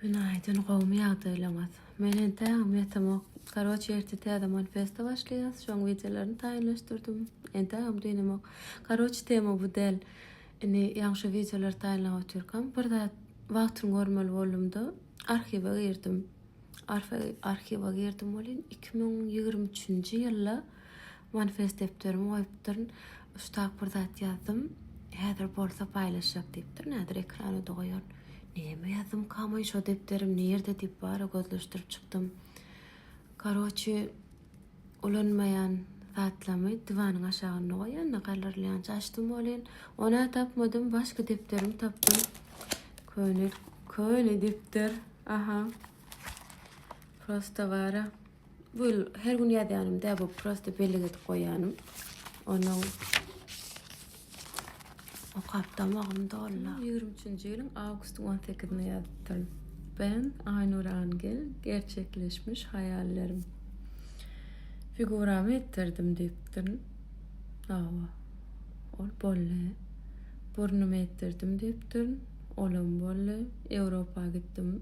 Günaýdyn gowmy ýagdaýlaňyz. Men entägem ýatamok. Karoçe ertir täze manifesto başlaýas. Şoň wideolaryny taýynlaşdyrdym. Entägem dynamok. Karoçe tema bu däl. Indi ýaňy şu wideolary taýynlap otyrkam bir zat wagtyny görmeli boldumda arhiwe girdim. Arhiwa girdim welin 2023-nji ýylda Manifest depderimi goýupdyryn. Uçtak bir zat ýazdym. Häzir bolsa paýlaşjak diýipdir. Nädür ekrana-da goýaryn. Näme ýazdymkamaý şo depderim nirde diýip bara gözleşdirip çykdym. Karoçi ulanmaýan zatlamy diwanyň aşagynda goýanda galyrilýança açdym welin, onä tapmadym, başga depderimi tapdym. Köne, köne depder. Aha. Prosta bara. Bu her gün ýazýanym dä, bu prosta bellik edip goýýanym. Onuň okap damagym doldy. 23-nji ýylyň awgustyň 18-ine ýazypdyryn. Ben Aýnur Angel, gerçekleşmiş haýallarym. Figuramy etdirdim diýipdirin. Hawa. Ol boldy. Burnumy etdirdim diýipdirin. Olam boldy. Ýewropa gitdim.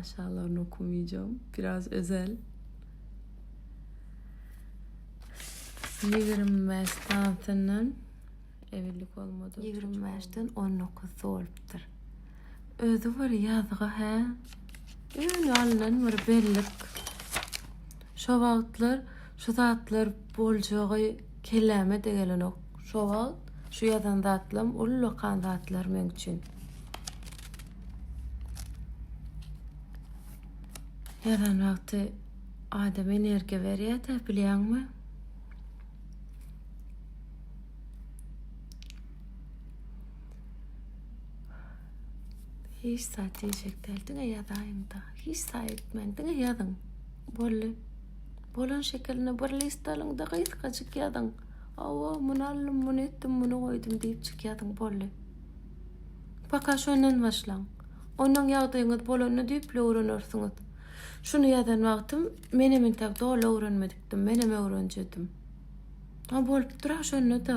Aşaglaryny okumayjam. Biraz özel. 25 tansyndan evellik olmadı. 25-den 19 dolupdyr. Özü bir yazgy hä? Öňe alnan bir bellik. Şu wagtlar şu zatlar boljagy kelläme de gelenok. Şu wagt şu ýazan zatlam ullakan zatlar men üçin. Heran wagty adam energiýa berýär-de, bilýäňmi? Hiç zat diýjek däl, diňe ýazaýyň-da. Hiç zat etmäň, diňe ýazyň. Boldy. Bolan şekeline bir list alyň-da gysgajyk ýazyň. Awa, muny aldym, muny etdim, muny goýdum diýipjik ýazyň, boldy. Paka şondan başlaň. Onnoň ýagdaýyňyz bolanda düýpli öwrenersiňiz. Şuny ýazan wagtym menem intäk doly öwrenmedikdim, menem öwrenjedim. A bolupdyr-a şonda-da.